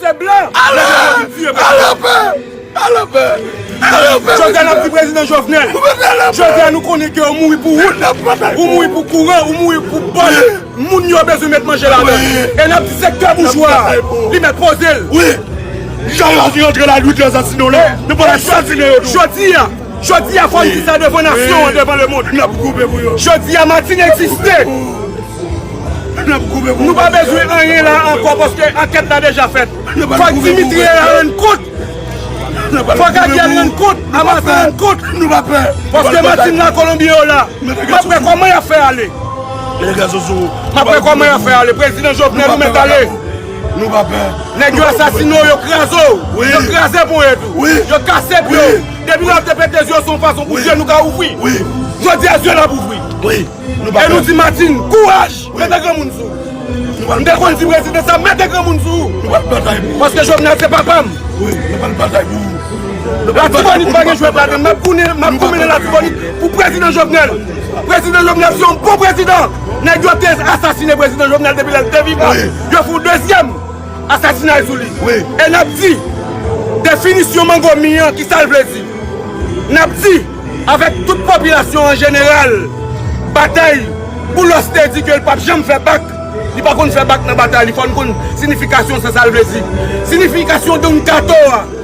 Se blan! Ale! Ale anpè! Ale anpè! Ale anpè! Jodi a nap di prezidan Jovenel. Jodi a nou konnen ke ou mouri pou wout. Ou mouri pou kouran. Ou mouri pou bòs. Moun yo bezwen met manje ladann. E nap di sektè boujwa a. Li mèt poze l. Wi! Jan yo antre la nwit yo asasine w la. Yo pral asasine yo tou. Jodi a. Jodi a fòm di sa devan nasyon an devan le mond. Jodi a Martine egziste. Nou pa bezwen anyen la ankò paske ankèt la deja fèt. Fòk Dimitri e a rann kont. Fòk Ariel rann kont. Amasa rann kont. Paske Martine la Kolonbi yo la. Map wè kòman yap fè ale. Map wè kòman yap fè ale. Prezidan Jovenel ou mèt ale. Nou pa pè. Nèg yo asasine w, yo kraze w, yo kraze ponyèt ou, yo kase pye w. Depi lè w te pete zye w se yon fason pou zye nou ka ouvri. Jodi a zye n ap ouvri. E nou di Martine, kouraj, mete granmoun sou ou. M te konn di prezidan sa, mete granmoun sou ou. Paske Jovenel se papa m. Latibonit pa gen jwèt ladan l. M ap goumen nan Latibonit pou prezidan Jovenel. Prezidan Jovenel se yon bon prezidan. Nèg yo te asasine prezidan Jovenel depi lè li te vivan, yo fè yon dezyèm asasinay sou li. E n ap di, definisyon mango mi an kisa l vle di? N ap di avèk tout popilasyon an jeneral, batay Boulos te di ke l pap janm fè bak, li pa konn fè bak nan batay li, fò n konn sinifikasyon sa sa l vle di. Sinifikasyon don kato a.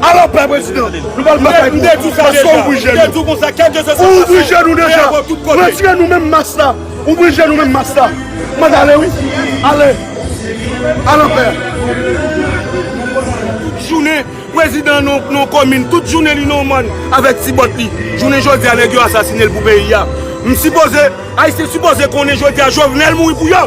Alò pè prezidan, nou pral batay pou ou, paske ou ouvri je nou. Ou ouvri je nou deja. Retire nou menm mas la. Ouvri je nou menm mas la. Manda ale wi. Ale. Al an pè. Jounen prezidan yon komin, tout jounen li nan mòn avèk ti bòt li. Jounen jodi a nèg yo asasine l pou peyi a. M sipoze, Ayisyen sipoze konnen jodi a Jovenel mouri pou yo.